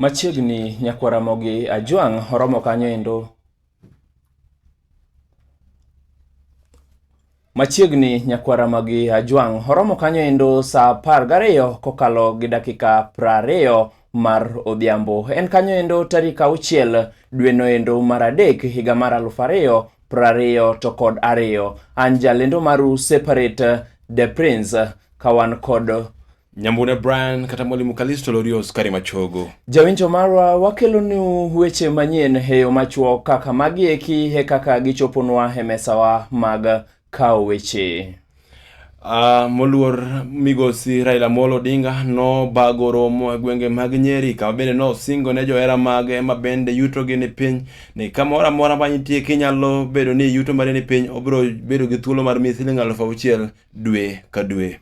Machiegni nyakwa Ramogi Ajwang' oromo kanyo endo. Machiegni nyakwa Ramogi Ajwang' oromo kanyo endo saa apar gariyo kokalo gi dakika prariyo mar Odhiambo. En kanyo endo tarik auchiel dwe noendo mar adek higa mar aluf ariyo prariyo to kod ariyo. An jalendo maru separate the prince kawan kod Nyambune Brian kata Mwalimu Kalisto Lorio Skari Machogo. Jawinjo marwa wakelo ni weche manyien heyo machuo kaka magi eki he kaka gichoponwa he mesawa mag kawo weche. Uh, moluor migosi Raila Amolo Odinga nobago romo e gwenge mag Nyeri kama bende nosingo ne johera mage ma bende yutogi ni piny ni kamoro amora ma nitie kinyalo bedo ni yuto mari ni piny obiro bedo gi thuolo mar miyi siling alufu auchiel dwe ka dwe.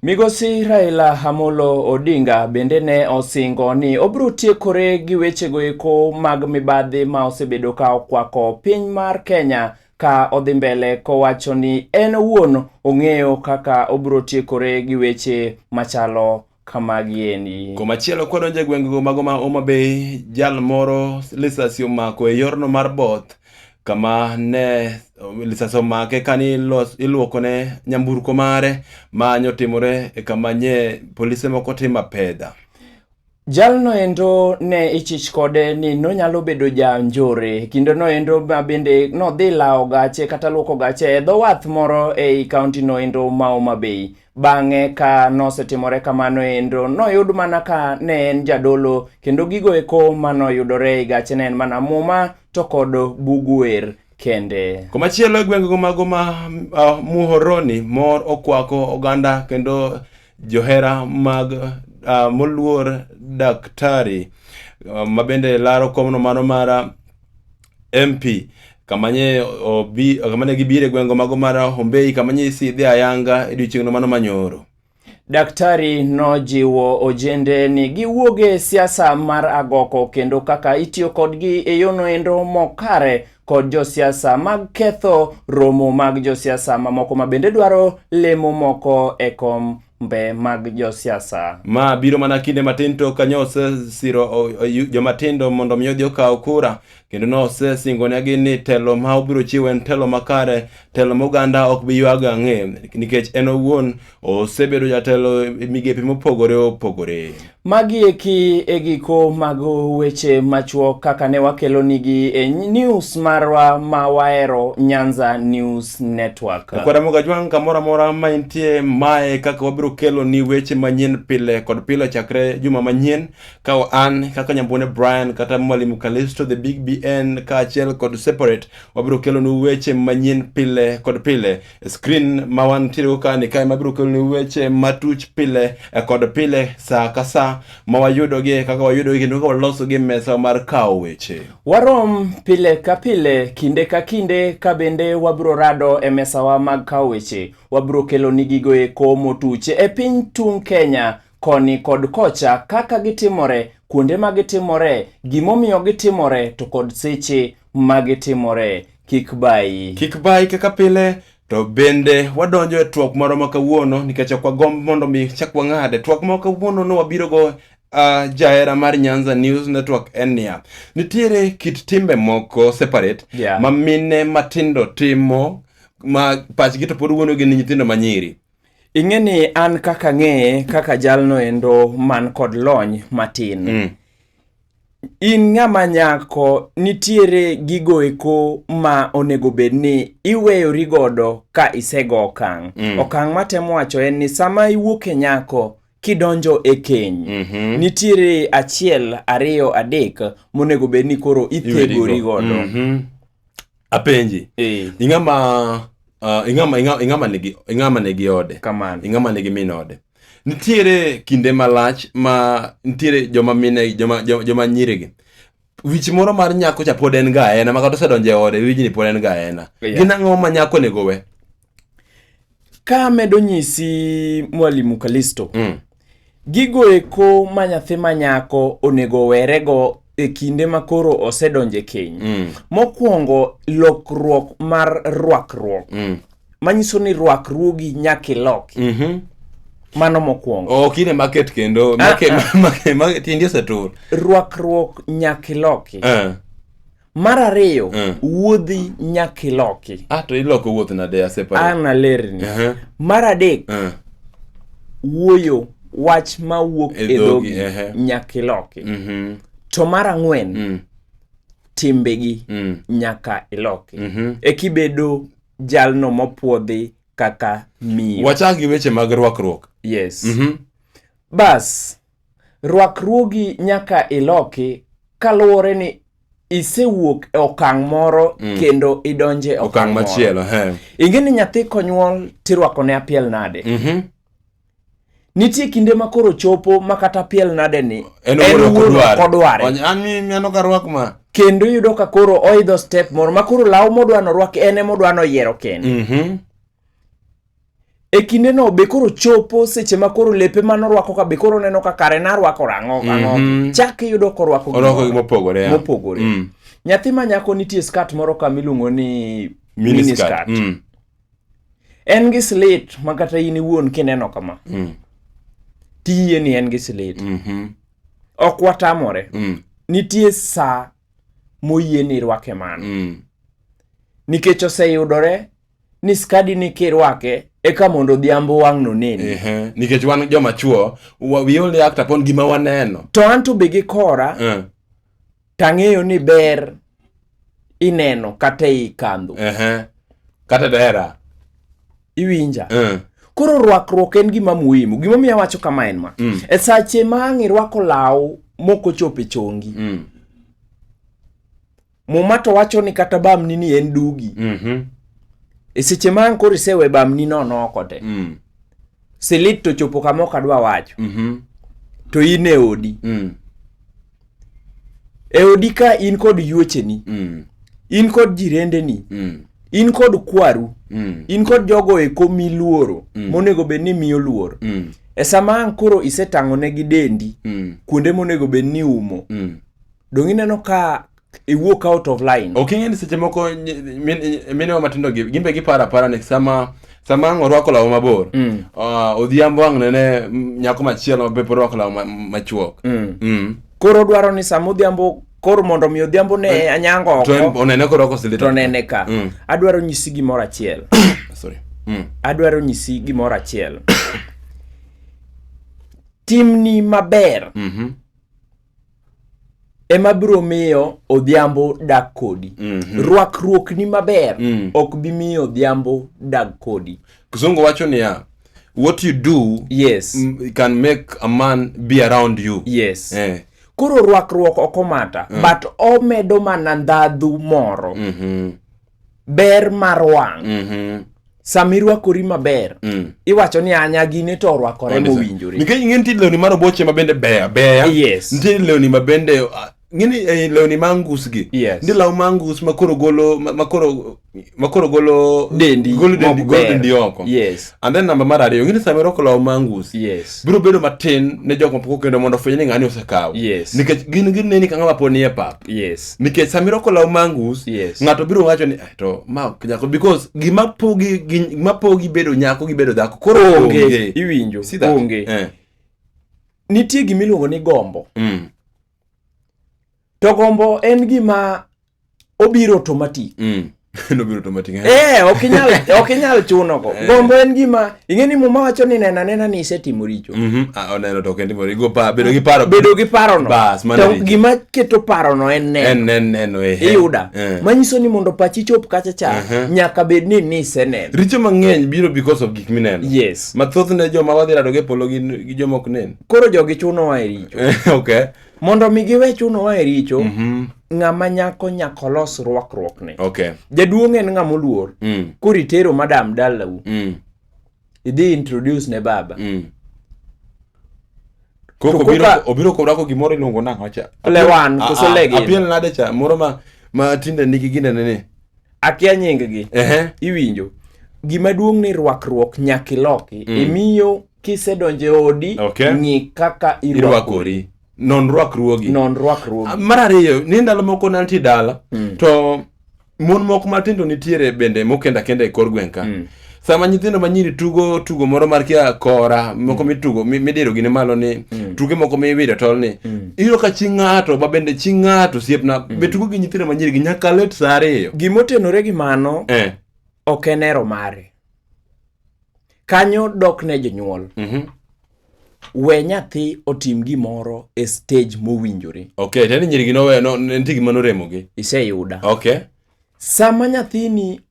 Migosi Raila Amolo Odinga bende ne osingo ni obiro tiekore gi wechego eko mag mibadhi ma osebedo ka okwako piny mar Kenya ka odhi mbele kowacho ni en owuon ong'eyo kaka obiro tiekore gi weche machalo kamagiendi. Komachielo kwadonjo e gwengego mago ma Homa Bay, jal moro lisasi omako e yorno mar both kama ne lisasi omake kani iluokone nyamburko mare ma nyotimore e kama nye polise moko timo apedha. Jalno endo ne ichich kode ni nonyalo bedo ja njore. Kinde no endo ma bende nodhi lawo gache kata luoko gache e dho wath moro ei kaunti no endo ma Homa Bay. Bang'e ka nosetimore kamano endo noyud mana ka ne en jadolo kendo gigo eko manoyudore e gache ne en mana muma to kod bug wer kende. Komachielo e gwenge go mago ma uh, Muhoroni mor okwako oganda kendo Johera mag uh, moluor daktari uh, mabende laro komno mano mar MP kamanye obi kamane gibire gwengo mago mar Hombei kamanye isidhi ayanga e odiechieng'no mano manyoro. Daktari nojiwo ojende ni giwuog e siasa mar agoko kendo kaka itiyo kodgi e yono endo mokare kod josiasa mag ketho romo mag josiasa mamoko ma bende dwaro lemo moko e kom mbe mag josiasa. Ma biro mana kinde matin to ka osesiro jomatindo mondo mi odhi okaw kura kendo nosesingonegi ni telo ma obiro chiwo en telo makare, telo moganda ok bi ywago ang'e nikech en owuon Osebedo jatelo e migepe mopogore opogore. Magi eki e giko mag weche machuok kaka ne wakelonigi e news marwa ma wahero Nyanza News Network. Kwara Mogajwang' kamoro amora ma intie mae kaka wabiro kelo ni weche manyien pile kod pile chakre juma manyien ka an kaka Nyambone Brian kata Mwalimu Kalisto the Big BN kaachiel kod Separate wabiro kelo ni weche manyien pile kod pile Screen ma wantiere go kani kae mabiro keloni weche matuch pile e kod pile saa ka saa ma wayudogi kaka wayudogi kendo kaka walosogi mesa mar kawo weche. Warom pile ka pile, kinde ka kinde ka bende wabiro rado e mesawa mag kawo weche. Wabiro keloni gigo eko motuch e piny tung' Kenya koni kod kocha, kaka gitimore, kuonde ma gitimore, gimomiyo gitimore, to kod seche ma gitimore. Kik bayi. Kik bayi kaka pile to bende wadonjo e twak moro ma kawuono nikech ok wagomb mondo mi chak wang'ade. Twak ma kawuono ne wabirogo uh, ah, jahera mar Nyanza News Network en niya, nitiere kit timbe moko separate yeah. ma mine matindo timo ma pachgi to pod wuonogi ni nyithindo manyiri ing'e ni an kaka ng'eye kaka jalno endo man kod lony matin mm. in ng'ama nyako nitiere gigo eko ma onego bed ni iweyori godo ka isego okang' mm. okang' matemo wacho en ni sama iwuok e nyako kidonjo e keny mm -hmm. nitiere achiel ariyo adek monego bed ni koro ithegori godo mm -hmm. apenji eh. ing'ama uh, ing'ama ing'ama nigi ing'ama nigi ode kamano ing'ama nigi min ode nitiere kinde malach ma nitiere joma mine joma joma nyirigi wich moro mar nyako cha pod en ga ena makata osedonjo e ode wijni pod en ga ena yeah. gin ang'o ma nyako onego we Ka amedo nyisi Mwalimu Kalisto, mm. gigo eko ma nyathi ma nyako onego werego e kinde ma koro osedonje keny. Mm. Mokwongo lokruok mar rwakruok. Mm. Manyiso ni rwakruogi nyaka iloki. Mm -hmm. Mano mokwongo. Oh, kine market kendo. Market, ah, ah. market, market, tindi osetur. Rwakruok nyaka iloki. Uh. Eh. mar ariyo mm. wuodhi nyaka iloki ah, to iloko wuoth nade an alerni uh -huh. mar adek uh. wuoyo wach ma wuok e dhogi uh -huh. nyaka iloki mm -hmm. to mar ang'wen mm. timbegi mm. nyaka iloki mm -hmm. ekibedo jalno mopwodhi kaka miyo wachak gi weche mag rwakruok yes mm -hmm. bas Rwakruogi nyaka iloki kaluwore ni isewuok e okang' moro mm. kendo idonje e okang' machielo. Ing'e ni nyathi konyuol tirwako ne apiel nade? Mm -hmm. Nitie kinde ma koro chopo ma kata apiel nade ni en wuoro kodware. Aneno ka rwak ma kendo yudo ka koro oidho step moro ma koro law modwano rwak en emodwano yiero kende. Mm -hmm. e kinde no be koro chopo seche ma koro lepe ma norwako ka be koro neno ka kare narwako rang'o mhm. ang'o mm -hmm. chak iyudo korwako orwako mopogore mopogore mm. nyathi ma nyako nitie skat moro ka miluongo ni mini skat mm. en gi slit ma kata in iwuon kineno kama mm. tiyie ni en gi slit mm -hmm. ok watamore mm. nitie saa moyie ni irwake mano mm. nikech oseyudore ni skadi ni kirwake eka mondo odhiambo wang' noneni nikech wan joma chuo we only act upon gima waneno to an to be gi kora uh. tang'eyo ni ber ineno kata ei kandhu uh -huh. kata dera iwinja uh. koro rwakruok en gima muhimu gimomiyo awacho kama en ma mm. e sache ma ang' irwako law mokochopo e chongi mm. Muma to wacho ni kata bamni ni en dugi. Mm -hmm. E seche ma an koro isewe bamni no noko te. Mm. Silit to chopo kama ok adwa wacho. Mm -hmm. To in e odi. Mm. E odi ka in kod yuocheni. Mm. In kod jirendeni. Mm. In kod kwaru. Mm. In kod jogo eko miluoro. Mm. Monego bed ni miyo luor. Mm. E sama an koro isetang'onegi dendi. Mm. Kuonde monego bed ni umo. Mm. Dong ineno ka iwuok out of line. Ok ing'e ni seche moko mine wa matindo gi gimbe gipara para ni sama sama ang' orwako law mabor mm. uh, odhiambo ang' nene nyako machielo mabe pod orwako law machuok mm. mm. koro dwaro ni sama odhiambo koro mondo mi odhiambo ne eh, anyango oko onene koro oko silita to nene ka mm. adwaro nyisi gimoro achiel sorry mm. adwaro nyisi gimoro achiel timni maber mm -hmm. ema biro miyo odhiambo dak kodi mm -hmm. rwakruok ni maber mm. ok bi miyo odhiambo dag kodi kizungu wacho niya what you do yes can make a man be around you yes eh. koro rwakruok ok omata mm. but omedo mana ndhadhu moro mm -hmm. ber mar wang' Mhm. sama irwakori maber Mm. iwacho ni anya gini to orwakore mowinjore nikech ing'e nitie lewni ma roboche ma bende beya beya Yes. nitie lewni ma bende ah, ng'eni eh, lewni ma angus gi Yes. nitie law ma angus ma koro golo ma- ma koro ma koro golo dendi golo dendi mok golo ber. dendi oko yes and then namba mar ariyo ng'eni sama irwako law ma angus yes biro bedo matin ne jok mapok okendo mondo ofweny ni ng'ani osekawo Yes. nikech gin gineni ka ng'ama pod nie pap yes nikech sama irwako law mangus yes. ng'ato biro wacho ni to ma nyako because gima pogi gima pogi bedo nyako gi bedo dhako koro onge iwinjo onge eh. nitie gima iluongo ni gombo mm. to gombo en gima obiro automatic mm. nobiro to matin eh ok inyal ok inyal chuno go eh. gombo en gima ing'e ni muma wacho ni nena nena ni isetimo richo mhm ah oneno to kendo mori go pa bedo gi paro bedo gi paro no bas mano to gima keto paro no en neno en neno neno eh iyuda eh. manyiso ni mondo pachi chop kacha cha mhm. nyaka bed ni ni iseneno richo mang'eny biro because of gik mineno yes mathoth ne joma wadhi rado gi polo gi joma ok nen koro jogi chuno wa e richo eh, okay mondo mi giwe chuno wa e richo mm -hmm. ng'ama nyako nyako los rwakruokne okay. jaduong' en ng'ama oluor mm. koro itero madam dalau mm. idhi introduce ne baba mm. koko obiro, obiro korwako gimoro iluongo nang'o cha lewan koso legin apiel nade cha moro ma, ma tinde nigi ginene ni akia nyinggi uh -huh. iwinjo gimaduong' ni rwakruok nyaka iloki mm. imiyo kisedonjo e odi okay. ng'i kaka irwakori non rwakruogi non rwakruogi ah, mar ariyo ni ndalo moko nantie dala mm. to mon moko matindo nitiere bende mokenda kenda e kor gweng' ka mm. sama nyithindo manyiri tugo tugo moro mar kia kora moko mm. mitugo midiro gine malo ni mm. tuge moko miwire tol ni mm. iyudo ka chi ng'ato ma bende chi ng'ato siepna mm. be tugo gi nyithindo manyiri gi nyaka let sa ariyo gimotenore gi mano eh. ok en ero mare kanyo dok ne jonyuol mm -hmm. we nyathi otim gimoro e stage mowinjore okay tani nyirigi nowe no nitie gima noremogi iseyuda okay sama nyathini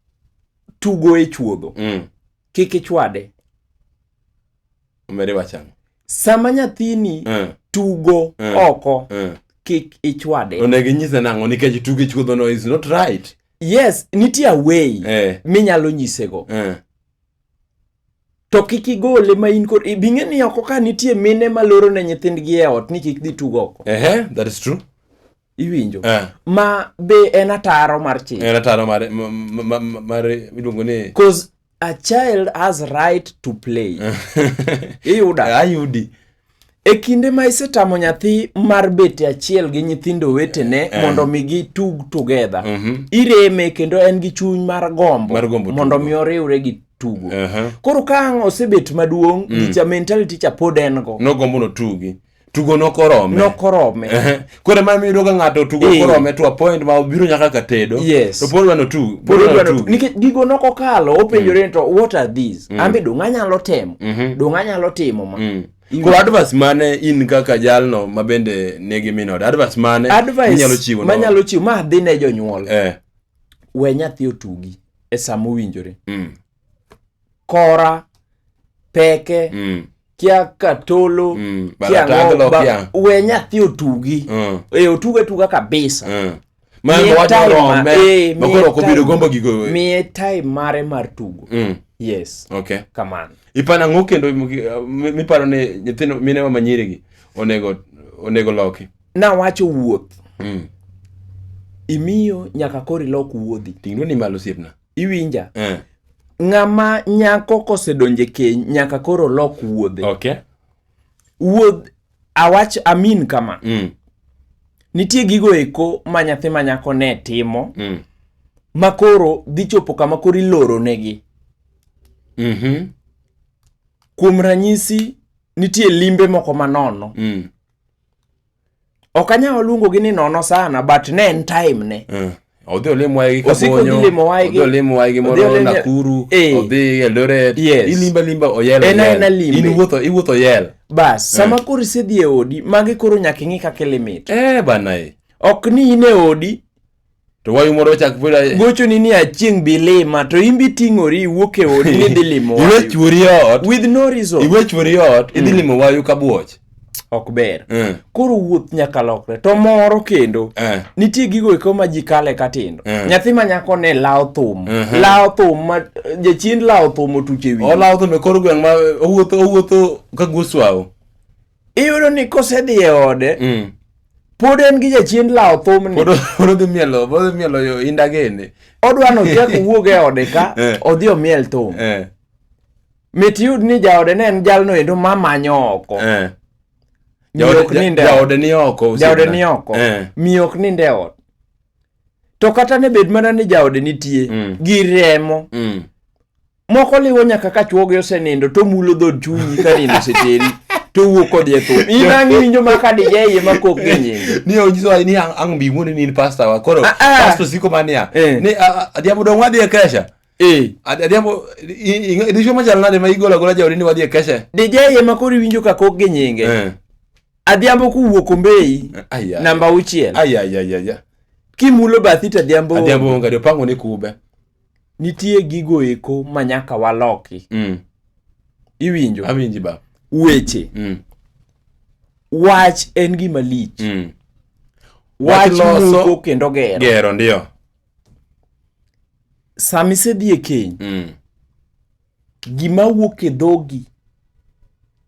tugo e chuodho mm. kik ichwade omere wachano sama nyathini mm. tugo mm. oko mm. kik ichwade onego inyise nang'o nikech tugo e chuodhono is not right yes nitie away eh. minyalo nyisego eh. to kik igole ma in kod bing'e ni oko ka nitie mine ma loro ne nyithindgi e ot ni kik dhi tugo oko eh, eh, that is true iwinjo eh. ma be en ataro mar chik en ataro mar mar iluongo ni cause a child has right to play iyuda ayudi e kinde ma isetamo nyathi mar bete achiel gi nyithindo wetene eh. mondo mi gitug together mm -hmm. ireme kendo en gi chuny mar gombo, mar gombo mondo mi oriwre gi tugo uh -huh. koro ka ang' osebet maduong' mm. gicha mentality cha pod en go nogombo notugi tugo nokorome nokorome kore ma miyudo ka ng'ato tugo eh. korome to apoint ma obiro nyaka ka tedo yes. to pod wano tug pod wano tug nikech gigo nokokalo openjore mm. ni to what are these mm. ambe donga nyalo temo mm -hmm. donga nyalo timo ma mm. Koro advice mane in kaka jalno ma bende nigi minod advice mane inyalo chiwo ma nyalo chiwo ma dhi ne jonyuol eh. we nyathi otugi e sama owinjore mm. kora peke mm. kia katolo mm. kia ng'o ba, we nyathi otugi mm. e otuga otuga kabisa mm. Eh, miye time mare mar tugo mm. yes okay kamano ipana ng'o kendo miparo ni nyithindo minewa manyirigi onego onego loki nawacho wuoth mm. imiyo nyaka koro ilok wuodhi ting'no ni malo siepna iwinja eh. ng'ama nyako kosedonje keny nyaka koro lok wuodhe okay. wuodh awach amin kama mm. nitie gigo eko ma nyathi ma nyako ne timo mm. ma koro dhi chopo kama koro iloro negi mm -hmm. kuom ranyisi nitie limbe moko manono mm. ok anyal waluongogi ni nono sana but ne en time ne mm. odhi olim waygi kabonyoodhi olim waygi moro nakuru eh. odhi eldoret ilimba limba oyel in iwuotho iwuotho yel bas eh. sama koro isedhi e odi magi koro nyaka ing'i kaka ilimit eh bana e ok ni in e odi to wayu moro chak pira gocho ni ni achieng bilima to imbi tingori wuok e odi ni dhi limo wayu iwe chwori ot with no reason iwe chwori ot idhi mm. limo wayu ka buoch ok ber mm. koro wuoth nyaka lokre to moro kendo mm. nitie gigo eko ma ji kale ka tindo mm. nyathi ma nyako ne lawo thum mm -hmm. lawo thum ma jachien lawo thum otuche wi olawo thum e kor gweng' ma owuotho owuotho ka goswawo iyudo ni kosedhi e ode mm. pod en gi jachien lawo thumni pod odhi mielo pod odhi mielo yo inda gene odwa ni ochak owuog e ode ka eh. odhi omiel thum eh. mit yud ni jaode ne en jalno endo ma manyo oko eh. jaode ni oko jaode ni oko miyo ok ninde e ot to kata ne bed mana ni jaode nitie mm. gi remo mm. moko liwo nyaka ka chuogi osenindo to mulo dhod chunyi ka nindo oseteri to wuok kodhi e thum in ang' iwinjo ma ka dije iye ma kok gi nyinge ni onyiso ni ang' ang' bi ng'wone ni in pasta wa koro Ah, ah. pasto siko ma niya Eh. ni ah, ah, adhiambo dong' wadhi e kesha eh Ad- adhiambo i- i- dichwo machal nade ma igolo agola jaodi ni wadhi e kesha dije iye ma koro iwinjo ka kok gi nyinge Eh. adhiambo kuwuok ombeyi Ai, ai. namba auchiel Ai, ai, ai, ai, ai. kimulo bathi to adhiambo adhiambo onge adi opango ni kube nitie gigo eko ma nyaka waloki mm. iwinjo awinji ba weche mm. wach en gima lich mm. wach muko kendo gero gero ndio sami sedhi e keny mm. gima wuok e dhogi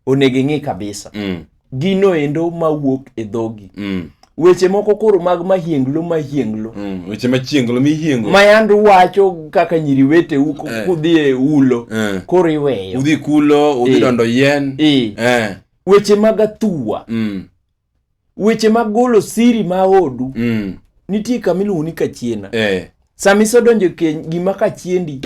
onego ing'i kabisa mm. gino endo ma wuok e dhogi mm. weche moko koro mag mahienglo mahienglo mm. weche machienglo mihiengo mayando wacho kaka nyiri wete uko eh. kudhi e ulo eh. koro iweyo udhi kulo udhi eh. dondo yien eh. eh. weche mag athuwa mm. weche mag golo siri ma odu mm. nitie kama iluongo ni kachiena eh. sama isedonjo keny gima kachiendi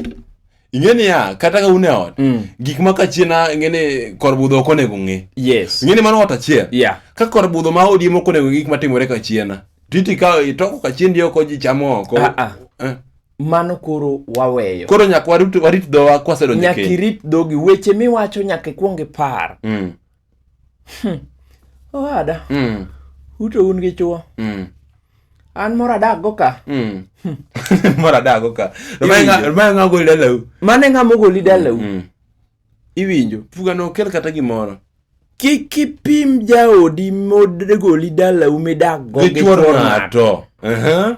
ing'e niya kata ka un e ot mm. gik ma kachiena ing'eni kor budho ok onego ng'e yes. ing'e ni mano ot achiel yeah. ka kor budho ma odiemo ok onego gik matimore kachiena titi ka itoko kachiendi oko ji chamo oko ah, ah. Eh. mano koro waweyo koro nyaka warit dhowa kwasedonjo nyaka irit dhogi weche miwacho nyaka ikwong ipar mm. Hmm. Owada. Mm. Ute un gi chwo. Mm. An moro adak go ka. Mm. Hmm. moro adak go ka. Ma nga goli dalau. Mane nga mo goli dalau. Mm. Iwinjo. Fuga no kel kata gimoro. Kik ipim jaodi mod goli dalau midak go gi chwo ng'ato. Uh -huh.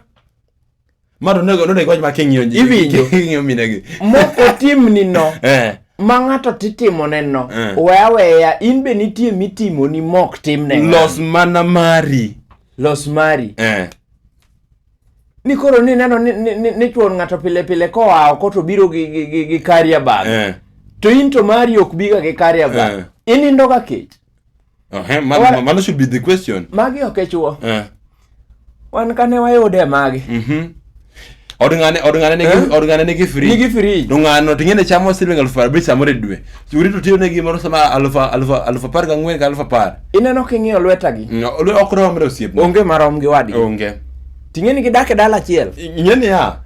Mano nego nego wach ma king'iyo ji. Iwinjo. King'iyo mine gi. Moko timni no. Eh. Ma ng'ato titimo ne no. Eh. Weya weya in be nitie mitimo ni mok tim ne. Los mana mari. Los mari. Eh. Ni koro ni neno ni, ni, ni, ni chuon ng'ato pile pile koa oko to biro gi, gi, gi, gi carrier bag. Eh. To in to mari ok biga gi carrier bag. Eh. Inindoga kech. mano should be the question magi ok echuo eh. wan kane wayude magi mhm. od ng'ane od ng'ane nigi eh? od ng'ane nigi free nigi free to ng'ano to ng'ene chamo siling aluf abich samoro e dwe churi to tiyo ne gimoro sama aluf aluf aluf apar gi ang'wen ka aluf apar ineno king'iyo lwetagi mm, ok romre osiepna onge marom gi wadgi onge ting'eni gidak e dala achiel ing'eni ya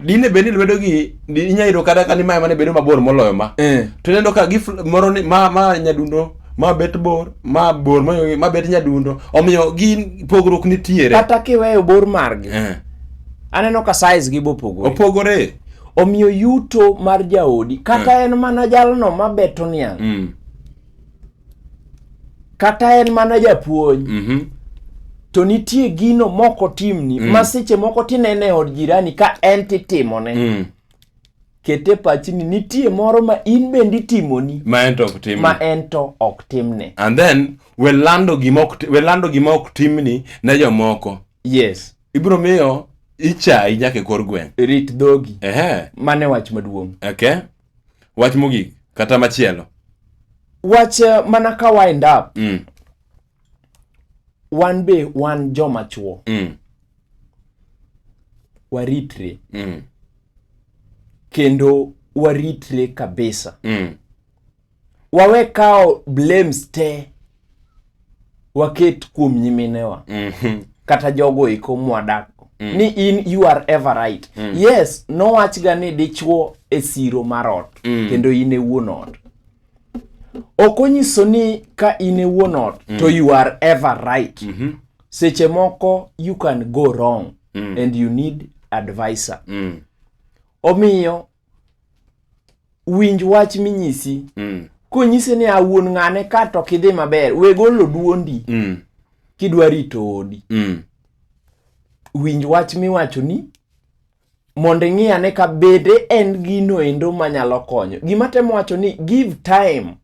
dine bed ni lwedo gi inya yudo kata kani mae mane bedo mabor moloyo ma eh. to ineno ka gif moro ni ma ma nyadundo ma bet bor ma bor ma, ma bet nyadundo omiyo gin pogruok nitiere kata kiweyo bor margi eh. aneno ka size gi bopogore opogore omiyo yuto mar jaodi kata eh. en mana jalno ma beto niang mm. kata en mana japuonj mm -hmm. to nitie gino moko timni mm. ma seche moko tinene e od jirani ka en titimone mm. kete pachini nitie moro ma in bende itimoni ma en to ok timni ma en to ok timne and then we lando gima ok we lando gima ok timni ne jomoko yes ibro miyo ichayi nyaka e kor gweng rit dhogi ehe mane wach maduong okay wach mogik kata machielo wach eh, mana ka wind up mm. wan be wan joma chuo mm. waritre mm. kendo waritre kabisa mm. wawe kawo blames te waket kuom nyiminewa mm -hmm. kata jogo eko mwadak mm. ni in you are ever right mm. yes nowachga ni dichwo e siro mar ot mm. kendo in e wuon ot ok onyiso ni ka in e wuon ot mm. to you are ever right mm -hmm. seche moko you can go wrong mm. and you need advisor mm. omiyo winj wach minyisi mm. konyise ni awuon ng'ane ka to kidhi maber we golo duondi mm. kidwa rito odi mm. winj wach miwacho ni mondo ing'i ane ka bede en gino endo manyalo konyo gima temo wacho ni give time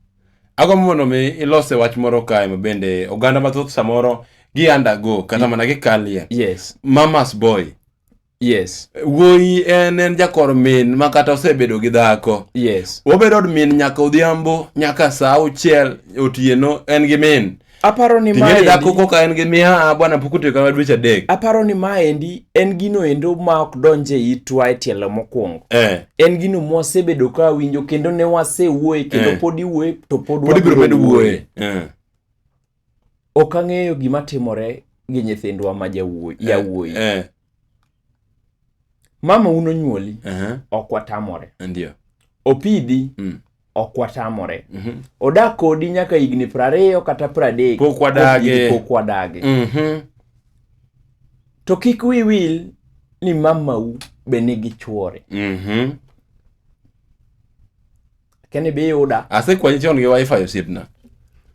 agombo mondo mi ilose wach moro kae ma bende oganda mathoth samoro gi undergo kata mana gikalie yes. mamas boy Yes. Wuoyi en en jakor min ma kata osebedo gi dhako. Yes. Obedo od min nyaka odhiambo, nyaka saa auchiel otieno en gi min. Aparo ni ma endi. dhako koka en gi miya ah, bwana pok otiyo kama dweche adek. Aparo ni ma endi en gino endo ma ok donje itwa e tielo mokwongo. Eh. En gino mwasebedo ka winjo kendo ne wasewuoye kendo eh. pod iwuoye to pod wabiro wuoye. Eh. ok ang'eyo gima timore gi nyithindwa ma jawuoyi eh, yawuoyi eh. mama uno nyuoli uh -huh. ok watamore ndio opidhi mm. ok watamore mm -hmm. odak kodi nyaka higni prariyo kata pradek pok wadage pok wadage mm -hmm. to kik wiwil ni mamau be nigi chuore mm -hmm. keni bi yuda asekwanyi chon gi wifi osiepna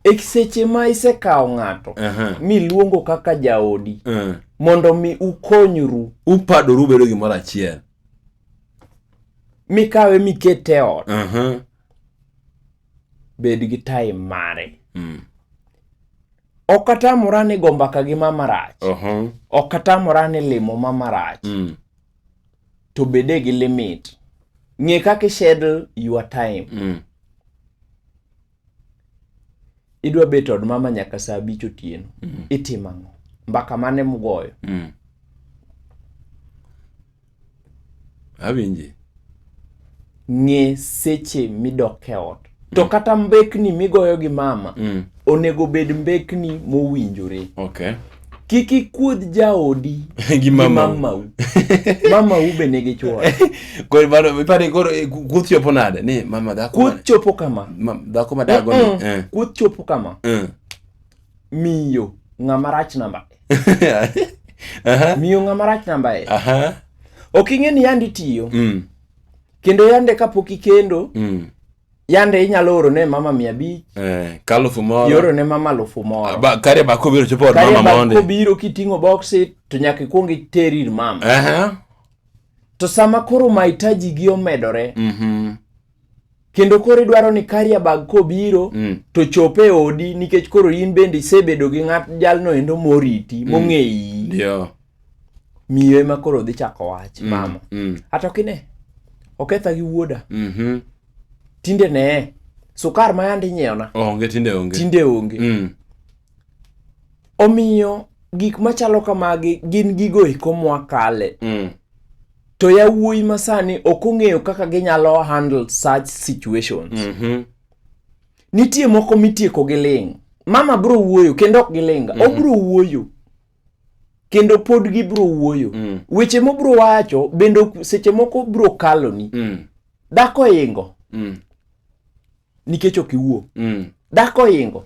e seche ma isekawo ng'ato Aha. miluongo kaka jaodi Eh. mondo mi ukonyru upadoru ubedo gimoro achiel mikawe mikete e ot Aha. bed gi time mare Mm. ok atamora ni gombaka gi mama rach Aha. ok atamora ni limo mama rach Mm. to bede gi limit ng'e kaka ischedule your time mm. idwa bet od mama nyaka saa abich otieno mm. itimo ang'o mbaka mane mugoyo mm. awinji ng'e seche midok e ot to mm. kata mbekni migoyo gi mama mm. onego bed mbekni mowinjore okay. kik ikuodh jaodi gi mamau mamau be nigi chwore eh, kuoth chopo nade ni mama dhako kuoth chopo kama dhako madago ni eh. kuoth chopo kama eh. miyo ng'ama rach namba miyo ng'ama rach namba e ok ing'e ni yandi tiyo mm. kendo yande kapok ikendo mm. yande inyalo oro ne mama mia abich eh, kalufu moro ioro ne mama alufu moro ba, kare ba kobiro chopo od mama mondi kare kobiro kiting'o boxi to nyaka ikuong iteri ir mama uh -huh. to sama koro mahitaji gi omedore mm -hmm. kendo koro idwaro ni Kariabag kobiro mm. to chope e odi nikech koro in bende isebedo gi ng'at jalno endo moriti mm. mong'eyi yeah. miyo ema koro dhi chako wach mm. mama mm. ata okine oketha gi wuoda mm -hmm. tinde ne sukar ma yandi nyiewna onge tinde onge tinde onge mm. omiyo gik machalo kamagi gin gigo eko mwakale mm. To yawuoyi masani ok ong'eyo kaka ginyalo handle such situations. Mm -hmm. Nitie moko mitieko gi ling'. Mama bro wuoyo kendo ok gilinga. Mm -hmm. Obro wuoyo kendo pod gibro wuoyo. Mm. Weche mobro wacho bende seche moko bro kaloni. Mm. Dhako ingo. Mm. nikech ok iwuo mm. dhako oingo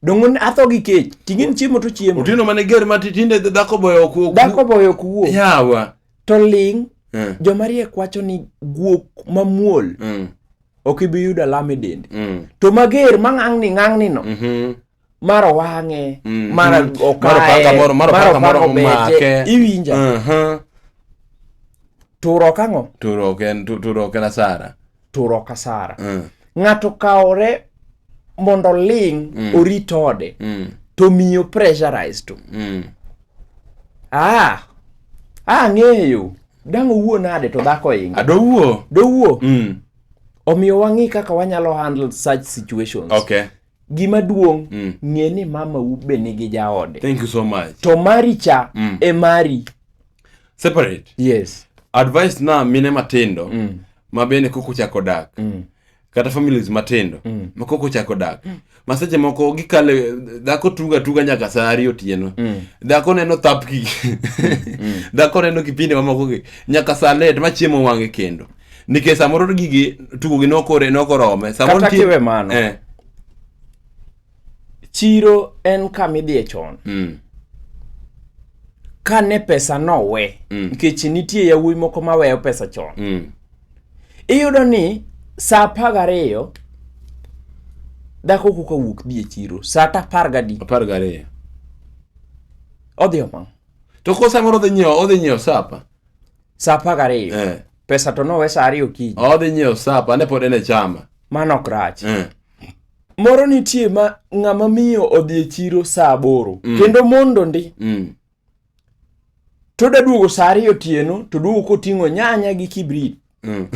dongo atho gi kech ting'e ni chiemo to chiemo otino mane ger ma tinde dhako boyo ok wuo dhako boyo ok wuo yawa to ling mm. joma riek wacho ni guok mamuol mm. ok ibi yudo alama e dendi mm. to mager ma ng'ang'ni ng'ang'ni no mm -hmm. mar owang'e mm-hmm. mar okayemaromake iwinja uh-huh. turok ang'o turok en turok en asara turok asara mm. ng'ato kawore mondo ling mm. orit ode mm. to miyo pressurize to mm. ah ang'eyo ah, dang' owuo nade to dhako inga dowuo dowuo mm. omiyo wang'i kaka wanyalo handle such situations okay gima duong' mm. ng'e ni mama u be nigi jaode thank you so much to mari cha mm. e mari separate yes advice na mine matindo mm. ma bende kok ochako dak mm. kata families matindo mm. ma kok ochako dak mm. ma seche moko gikale dhako tuga tuga nyaka saa ariyo otieno mm. dhako neno thapki mm. dhako neno kipindi mamoko nyaka saa let ma chiemo wang'e kendo nikech samoro gigi tugogi nokore nokorome samoro kata kiwe mano eh. chiro en kama idhiye chon mm. kane pesa nowe mm. nikech nitie yawuoyi moko maweyo pesa chon mm. iyudo ni saa apar gariyo dhako koka wuok dhi e chiro saa ta apar gadi apar gariyo odhi omang' to ko samoro odhi nyiewo odhi nyiewo sapa Sa apar gariyo. Eh. Pesa to nowe sa ariyo okinyi. Odhi nyiewo sapa, ane pod en e chama. Mano ok rach. Eh. Moro nitie ma ng'ama miyo odhi e chiro sa aboro. Mm. Kendo mondo ndi. Mm. To da duogo sa ariyo otieno, to duogo koting'o nyanya gi kibrit. Mm.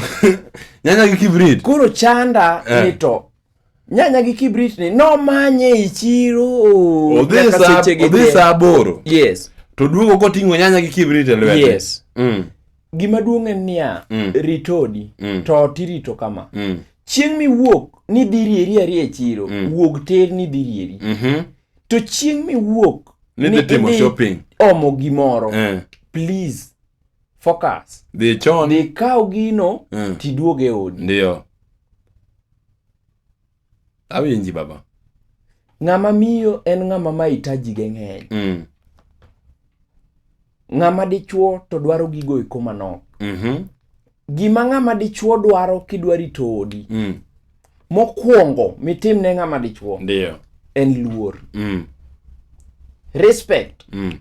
nyanya gi kibrit. Koro chanda eh. ni to nyanya gi kibrit ni nomanye e chiro oh, odhi nyaka saa seche gi odhi te. saa aboro yes to duogo koting'o nyanya gi kibrit e lwete yes Mm, gima duong' en niya Mm. ritodi Mm. to ot irito kama mm, chieng' miwuok ni dhi rieri ariya e chiro Mm. wuog ter ni dhi rieri mhm. to chieng' miwuok Ni dhi timo idhi shopping. omo gimoro Eh, please focus dhi chon dhi kaw gino Mm. tiduog e odi ndio awinji baba ng'ama miyo en ng'ama mahitaji ge ng'eny mm. ng'ama dichuo to dwaro gigo eko manok mhm, gima ng'ama dichuo dwaro kidwa rito odi mm. mokwongo mitim ne ng'ama dichuo ndio en luor mm. respect mm.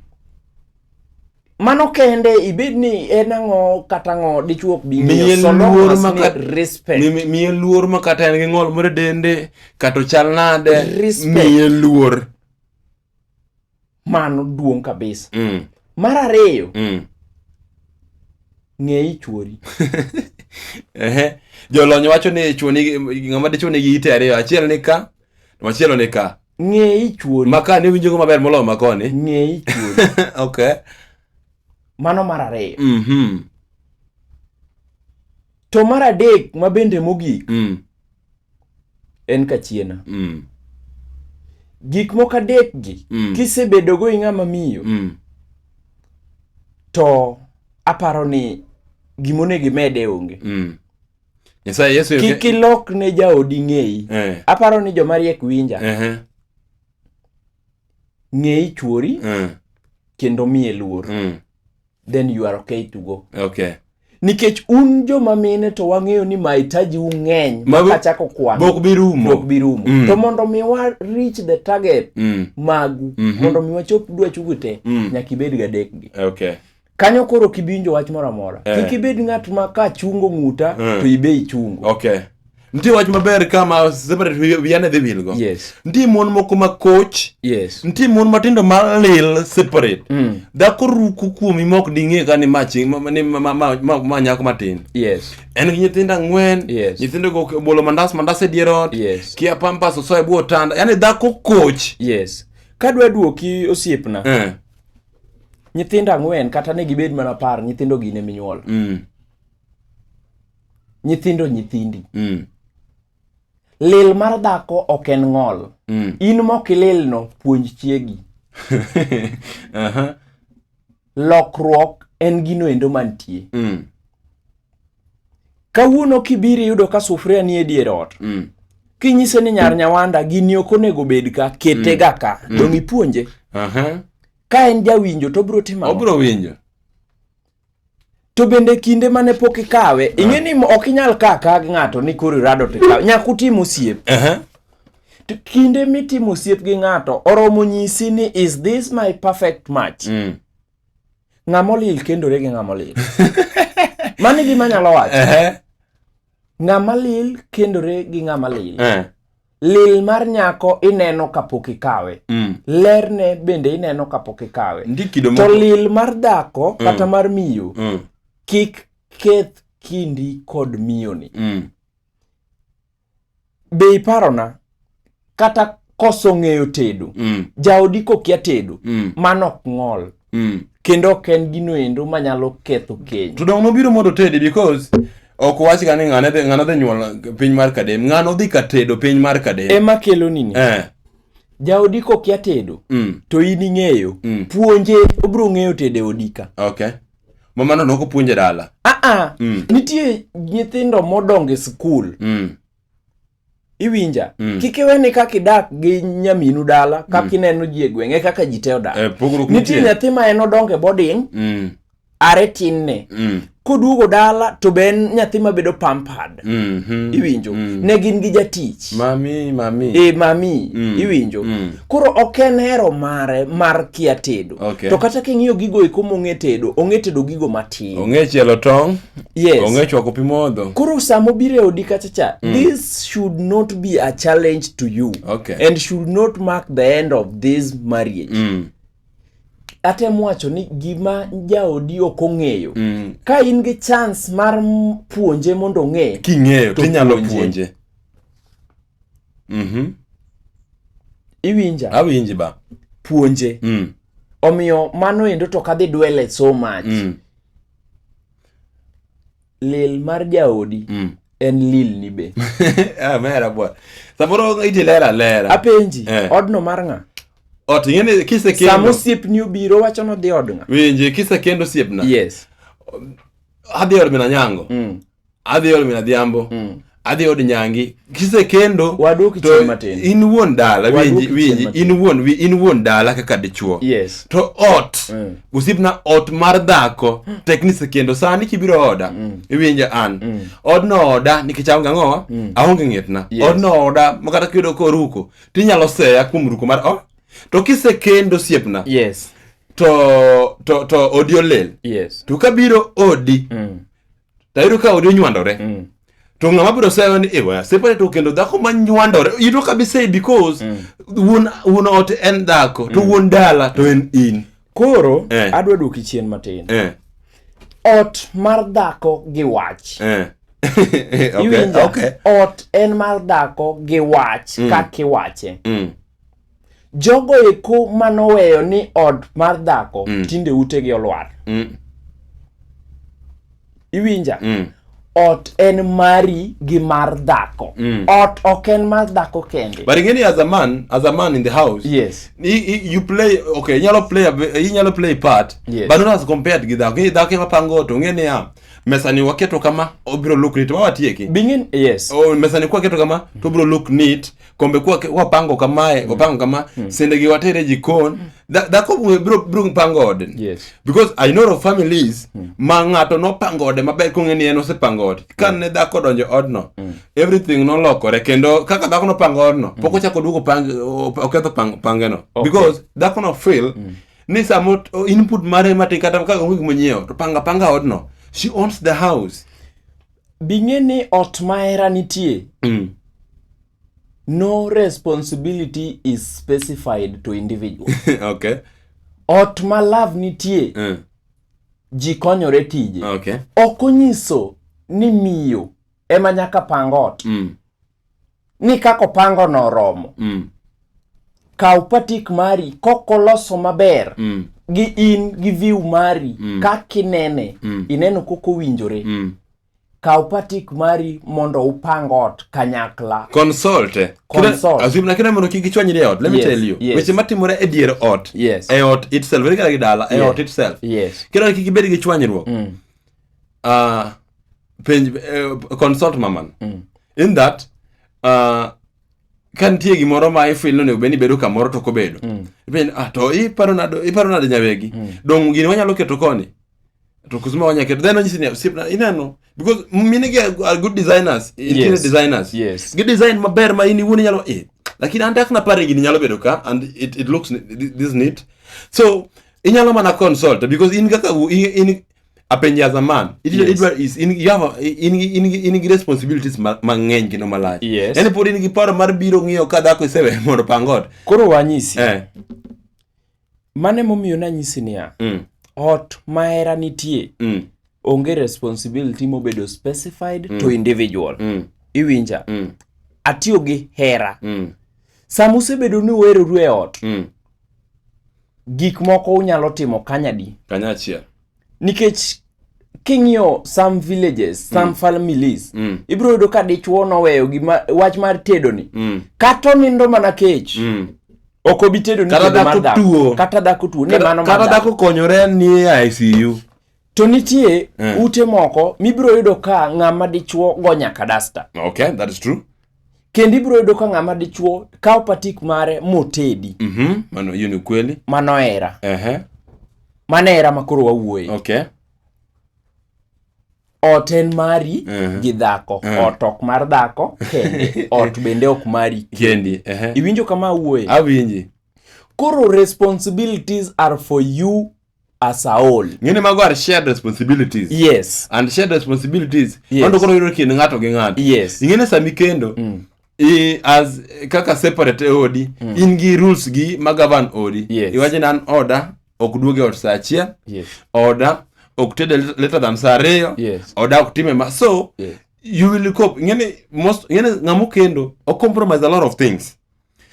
mano kende ibed ni en ang'o kata ang'o dichuo ok bi ng'iyo so long luor as ma ni kat- respect Mi- mi- miye luor ma kata en gi ng'ol moro e dende kata ochal nade Respect. miye luor mano duong' kabisa mm, mar ariyo mm, ng'e i chwori ehe jolony wacho ni chwoni ng'ama dichwo nigi ite ariyo achiel ni ka to machielo ni ka ng'e i chwori ma ka ne winjogo maber moloyo ma koni ng'e i chwori okay mano mar ariyo mhm to mar adek ma bende mogik mm. en kachiena mm. gik moko adek gi mm. kisebedogo i ng'ama miyo mm. to aparo ni gimonego imede onge mm. kik ilok ne jaodi ng'eyi eh. aparo ni joma riek winja uh -huh. ng'eyi chuori uh eh. -huh. kendo miye luor mm. then you are okay to go okay nikech un joma mine to wang'eyo ni mahitaji u ng'eny makachako kwanbok birumo bi rumo mm. to mondo mi wa reach the target mm. magu mm -hmm. mondo mi wachop dwachugu te mm. nyaka ibed gadekgi okay kanyo koro kibiwinjo wach moro amora eh. kik ibed ng'at ma ka chungo ng'uta eh. to ibe ichungo okay nitie wach maber kama separate wiane dhi wilgo yes. nitie mon moko ma koch yes. nitie mon matindo malil separate mm. dhako ruku kuomi mok ding'e ka ni machi ma nyako matin yes. en gi nyithindo ang'wen yes. nyithindo go bolo mandas mandas e dier ot yes. kia pampas osoe bwo otanda yani dhako koch yes. kadwa duoki osiepna eh. nyithindo ang'wen kata ne gibed mana par nyithindo gine minyuol mm. nyithindo nyithindi mm. lil mar dhako ok en ng'ol mm. in mokililno puonj chiegi uh -huh. lokruok en gino endo mantie mm. kawuono kibiri yudo ka sufuria nie dier ot mm. kinyise ni nyar nyawanda gini ok onego bed ka kete mm. ga ka mm. dong ipuonje uh -huh. ka en jawinjo to obro timo obro winjo to bende kinde mane pok ikawe ing'e ni ok inyal ka ka gi ng'ato ni koro irado to ikawe nyaka utim osiep Aha. To kinde mitimo osiep gi ng'ato oromo nyisi ni is this my perfect match Mm. ng'amolil kendore gi ng'amolil mano e gima anyalo wacho Aha. ng'amalil kendore gi ng'amalil Eh. lil mar nyako ineno kapok ikawe mm. lerne bende ineno kapok ikawe to lil mar dhako mm. kata mar miyo mm. kik keth kindi kod miyoni mm. be iparona kata koso ng'eyo tedo mm. jaodi kokia tedo mm. mano ok ng'ol mm. kendo ok en gino endo manyalo ketho keny to dong nobiro mondo tedi because ok wach ga ni ng'ano dhi ng'ano dhi nyuol piny mar kadem ng'ano dhi ka tedo piny mar kadem ema kelo nini eh jaodi kokia tedo mm. to in ing'eyo mm. puonje obiro ng'eyo tedo e odika okay mama no noko puonje dala a a mm. nitie nyithindo modongo e skul mm. iwinja mm. kik iwe ni kaka idak gi nyaminu dala kaka mm. ineno ji e gweng' e kaka ji te odak eh, nitie nyathi ma en odongo e boding mm. are tinne mm. koduogo dala to be en nyathi ma bedo pampad mm -hmm. iwinjo mm. ne gin gi jatich mami mami e mami mm. iwinjo mm. koro ok en hero mare mar kia tedo okay. to kata king'iyo gigo eko mong'e tedo ong'e tedo gigo matin ong'e chielo tong' yes onge chwako pi modho koro sama obiro e odi kacha cha mm. this should not be a challenge to you okay. and should not mark the end of this marriage mm. atem wacho ni gima jaodi ok ong'eyo mm. ka in gi chance mar puonje mondo ong'e king'eyo tinyalo puonje Mhm. iwinja Awinji ba. puonje Mm. omiyo mano endo to kadhi dwele so much Mm. lil mar jaodi Mm. en lil ni be Ah, mera bwa. Samoro iti lera lera. apenji Eh. odno mar ng'a Ot ing'eni sama kisekendo. osiepni obiro wacho nodhi od ng'a Winji kisekendo siepna. yes Adhi od mina nyango. mm. adhi ol min adhiambo mm. adhi od nyangi kisekendo in wuon dala winji winji in wuon in wuon dala kaka dichuo yes. to ot mm. usipna ot mar dhako mm. tek ni sekendo sani kibiro oda mm. iwinja an mm. odno oda nikech aonge ang'owa mm. aonge ng'etna yes. odno oda makata kiyudo koruko tinyalo seya kuom ruko mar o to kisekendo siepna yes. to to to odi olel yes. to kabiro odi mm to ayudo ka odi onywandore mm. to ng'ama biro sayo ni ewa separe to kendo dhako ma nywandore you know kabi say because mm. wuon wuon ot en dhako to mm. wuon dala to en in koro eh. adwa duoki chien matin eh. ot mar dhako gi wach eh. okay, okay. ot en mar dhako gi wach mm. kaka iwache mm. jogo eko manoweyo ni od mar dhako mm. tinde utegi olwar mm. iwinja mm. ot en mari gi mar dhako mm. ot ok en mar dhako kende but ingeni as a man as a man in the house yes I, I, you play okay inyalo play inyalo play part yes. but not as compared gi dhako dhako ema pango to ngeni ya mesani waketo kama obiro look neat mawatieki bingin yes oh, mesani kwaketo kama to obiro look neat kombe kwa kwa pango kamae mm. opango kama mm. sende gi watere jikon mm. da da ko bro bro pango ode yes because i know of families mm. ma ngato no pango ode maber ko ngeni en ose pango ode kan mm. ne da ko donjo odno mm. everything no lokore kendo kaka da ko no pango odno mm. poko chako duko pang oketho pang pangeno okay. because da ko no feel mm. ni samo input mare mate kata kaka onge gimonyiewo to panga panga odno she owns the house Bing'e ni ot ma hera nitie. Mm. No responsibility is specified to individual. okay. Ot ma love nitie. Mm. Ji konyore tije. Okay. Ok onyiso ni miyo ema nyaka pang ot. Mm. ni kaka opango no oromo mm. kaw patik mari kokoloso maber mm. gi in gi view mari mm. kaka inene mm. ineno koko winjore mm. kaw patik mari mondo upang ot kanyakla consult eh? consult azim lakini mondo kik gichwanyri e ot let me yes, tell you yes. weche matimore e dier ot yes. e ot itself ere kaka gidala e yes. ot itself yes. kendo kik ibed gi chwanyruok mm. uh, penj uh, consult maman mm. in that uh, ka nitie gimoro ma ifil nonego bed ni bedo kamoro to kobedo mm. ipenj ah to iparo nado iparo nade nyawegi mm. dong gini wanyalo keto koni to kusema wanya keto then onyisi ni osipna inano because mine gi are good designers interior yes. designers yes. gi design maber ma in iwuon inyalo eh lakini an dakna pare gini nyalo bedo ka and it, it looks this neat so inyalo mana consult because in kaka in, in apenje as a man idwa Yes. idwa is in you have a- in in in gi responsibilities ma- mang'eny kendo malach Yes. yani pod in gi paro mar biro ng'iyo ka dhako isewe mondo pang ot koro wanyisi eh mane momiyo nanyisi niya mm ot mahera nitie mm onge responsibility mobedo specified to individual mm iwinja mm atiyo gi hera mm sama usebedo ni uheroru e ot mm gik moko unyalo timo kanyadi kanyachiel nikech king'iyo some villages some mm. families mm. ibiro yudo ka dichuo noweyo gima wach mar tedo ni mm. kata onindo mana kech mm. ok obi tedo ni kata dhako tuo kata dhako tuo ni mano kata dhako konyore ni ICU to nitie mm. ute moko mibiro yudo ka ng'ama dichuo go nyaka dasta okay that is true kendo ibiro yudo ka ng'ama dichuo kawo patik mare motedi mm -hmm. mano hiyo ni ukweli mano era uh -huh. mano era makoro wawuoye okay. ot en mari uh -huh. gi dhako uh -huh. ot ok mar dhako kende ot bende ok mari kendi uh -huh. iwinjo kama awuoye awinji koro responsibilities are for you as a whole ng'eni mago are shared responsibilities yes and shared responsibilities yes. mondo koro yudo kind ng'ato gi ng'ato yes ing'eni sami kendo mm. I, as kaka separate e odi mm. in gi rules gi ma govern odi yes. iwache ni an oda ok duoge ot saa achiel yes. oda ok tede later than saa ariyo yes. oda ok time ma so yes. you will cope ing'eni most ing'eni ng'amo kendo o compromise a lot of things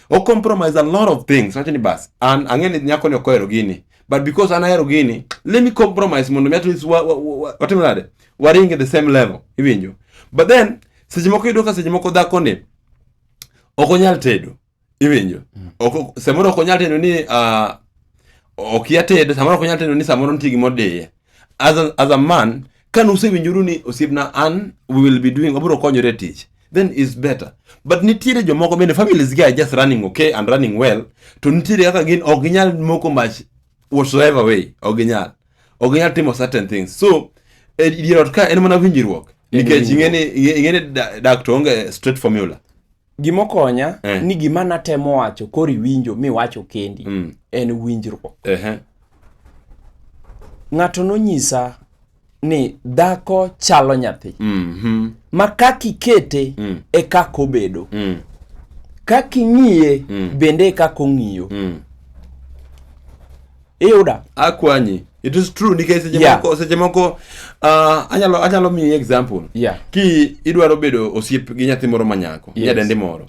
o compromise a lot of things wacho ni bas an ang'e ni nyako ni ok ohero gini but because an ahero gini let me compromise mondo mi at least wa- wa- wa- wa- watim nade waring at the same level iwinjo but then seche moko iyudo ka seche moko dhako ni ok onyal tedo iwinjo Ok- ok- samoro ok onyal tedo ni ah, okia tedo samoro ok onyal tedo ni samoro nitie gima odiye as a, as a man ka nusewinjoru ni osiepna an we will be doing wabiro konyore tich then is better but nitiere jomoko bende families gi are just running okay and running well to nitiere kaka gin ok ginyal moko much whatsoever way ok ginyal ok ginyal timo certain things so e dier ot ka en mana winjruok nikech ing'e ni ing'e ni da- dak to onge straight formula gimokonya eh. ni gima natemo wacho koro iwinjo miwacho kendi mm. en winjruok eh. ng'ato nonyisa ni dhako chalo nyathi mm -hmm. ma kaka ikete mm. e kaka obedo mm. kaka ing'iye mm. bende e kaka ong'iyo mm. iyuda akwanyi it is true nikech seche yeah. moko seche moko uh, anyalo anyalo miyi example yeah. ki idwaro bedo osiep gi nyathi moro manyako yes. nyadendi moro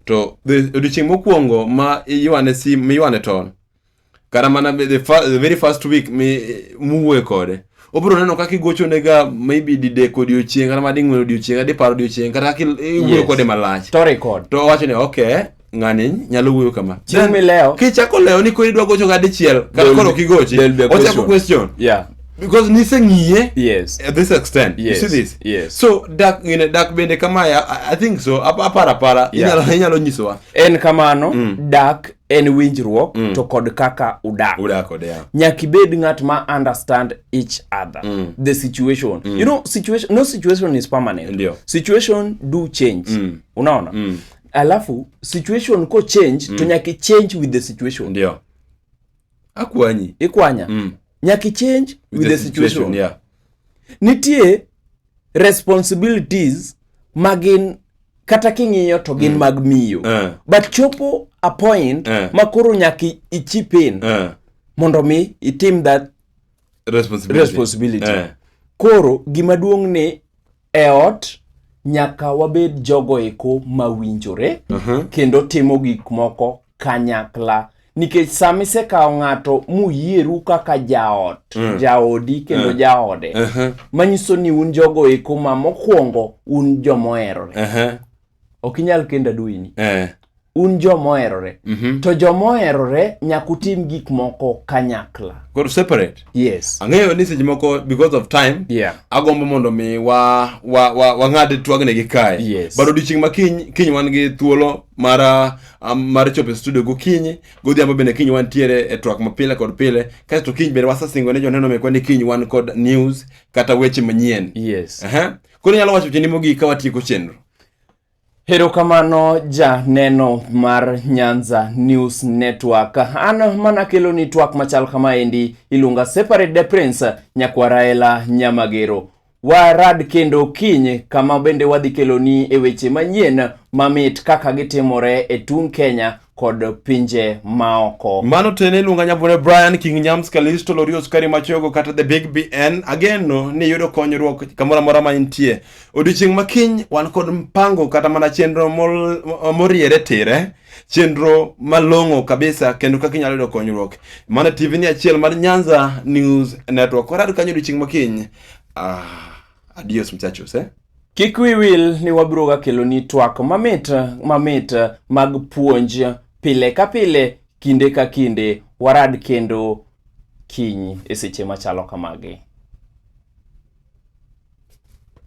to odiochieng' mokwongo ma iywane sim miywane tol kata mana the, the very first week muwuoye kode obiro neno kaka igochonega maybe didek odiochieng kata mading'wen odiochieng kata dipar odiochieng kata kaka iwuoyo kode malach to record to owacho ni okay ng'ani nyalo wuoyo kama chieng' milewo kichako lewo ni koro idwa gocho ga dichiel kata koro kigochi ochako question yeah because niseng'iye yes at this extent yes. you see this yes so dak you know, dak bende kama I, I think so apara apara yeah. inyalo inyalo nyisowa en kamano mm. dak en winjruok mm. to kod kaka udak yeah. nyaka ibed ng'at ma understand each other mm. the situation mm. you know situation no situation is permanent Ndiyo. situation do change mm. unaona mm. alafu situation ko change mm. to nyaka change with the situation Ndiyo. akwanyi ikwanya mm. nyaka change with, with the, the situation, situation yeah. nitie responsibilities magin kata king'iyo to gin mm. mag miyo uh. but chopo a point uh. ma koro nyaka ichip in uh. mondo mi itim that responsibility, responsibility. Uh. koro gima duong' ni e ot nyaka wabed jogo eko mawinjore uh -huh. kendo timo gik moko kanyakla nikech sama isekawo ng'ato muyieru kaka jaot mm. jaodi kendo uh. jaode uh -huh. manyiso ni un jogo eko ma mokwongo un jomoherore uh -huh. ok inyal kenda duini uh eh. -huh. un jomoherore mm -hmm. to jomoherore nyaka utim gik moko kanyakla koro separate yes ang'eyo ni seche moko because of time yeah. agombo mondo mi wa wa wa wang'ad twagne gi kae yes. but odiochieng' ma kiny kiny wan gi thuolo mara mar chopo e studio gokinyi godhiambo bende kiny wantiere e twak mapile kod pile kasto kiny bende wasesingo ne joneno mekwa ni kiny wan kod news kata weche manyien yes. uh-huh. koro inyalo wacho cheni mogik ka watieko chenro Erokamano janeno mar Nyanza News Network. An mana kelo ni twak machal kama endi iluonga Separate the Prince Nyakwaraela Nyamagero. Warad kendo kiny kama bende wadhi keloni e weche manyien mamit kaka gitimore e tung' Kenya kod pinje maoko. Mano tene iluonga nyabore Brian King Nyams Kalisto Lorio Sukari Machogo kata The Big BN. Ageno ni yudo konyruok kamoro amora ma intie. Odiochieng' ma kiny wan kod mpango kata mana chenro moriere tire chenro malong'o kabisa kendo kaka inyalo yudo konyruok. Mano TV ni achiel mar Nyanza News Network. Warad kanyo odiochieng' ma kiny. Ah, adios muchachos eh? Kik wi wil ni wabiro ga kelo ni twak mamit mamit mag puonj pile ka pile kinde ka kinde warad kendo kiny e seche machalo kamagi.